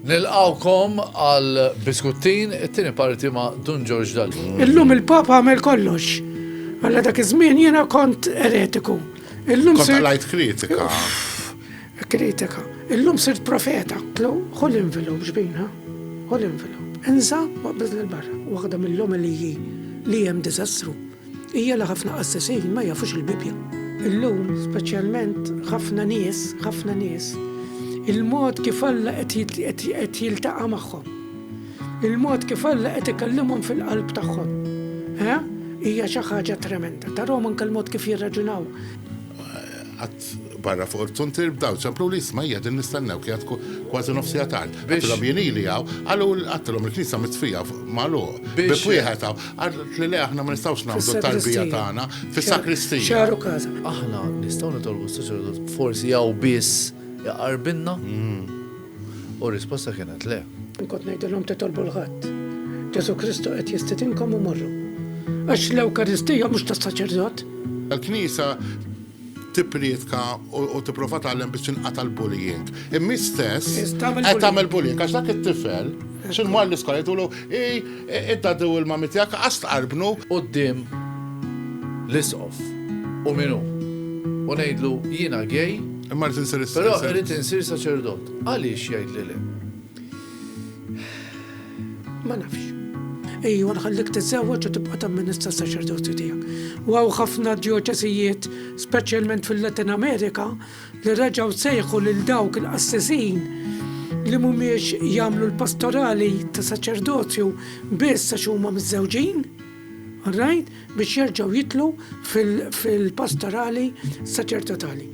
Nilqawkom għal biskuttin, it-tieni parti ma' Dun George Dalli. Illum il-Papa għamel kollox. Għalla dak iż-żmien jiena kont eretiku. Illum se. Kont kritika. Kritika. Illum sirt profeta. Tlu, ħu l-envelop xbin, ha? Ħu l-envelop. Insa, waqbiżni l-barra. Waħda mill-omeliji li hemm diżastru hija li ħafna qassesin ma jafux il-Bibbja. Illum, speċjalment, ħafna nies, ħafna nies, il-mod kif Alla qed jiltaqa' magħhom. Il-mod kif Alla qed ikellimhom fil-qalb tagħhom. Hija xi ħaġa tremenda. Tarhom anke l-mod kif jirraġunaw. barra fuq il-frontier bdaw ċempluli isma' hija din nistennewk hija tkun kważi nofs siegħa tard. Għedtilhom jien ili hawn, qalu għedtilhom il-knisja mitfija magħluq. Bieb wieħed hawn. Qalet li le aħna ma nistgħux nagħmlu t-tarbija tagħna fis-sakristija. Aħna nistgħu nitolbu s-saċerdot forsi hawn biss iqarbilna? U r-risposta kienet le. Kont ngħidilhom titolbu 'l ħadd. Ġesù Kristu qed jistidinkom u morru. Għax l-Ewkaristija mhux tas-saċerdot. Il-knisja tipprietka u tipprova tgħallem biex tinqata' l-bullying. Imma hi stess qed tagħmel bullying għax dak it-tifel x'inhu mar l-iskola jgħidulu id-daddy u l-mummy tiegħek qas tqarbnu quddiem l-Isqof u min hu. U ngħidlu jiena gay, però irrid insir saċerdot. Għaliex jgħidli le? Ma nafx. Ejwa nħallik tiżżewweġ u tibqa' tamministra s-saċerdozju tiegħek. U hawn ħafna djoċesijiet, speċjalment fil-Latin Amerika, li reġgħu sejħu lil dawk il-qassisin li mhumiex jagħmlu l-pastorali ta' saċerdozju biss għax huma miżżewġin. Rajt biex jerġgħu jidħlu fil-pastorali saċertotali.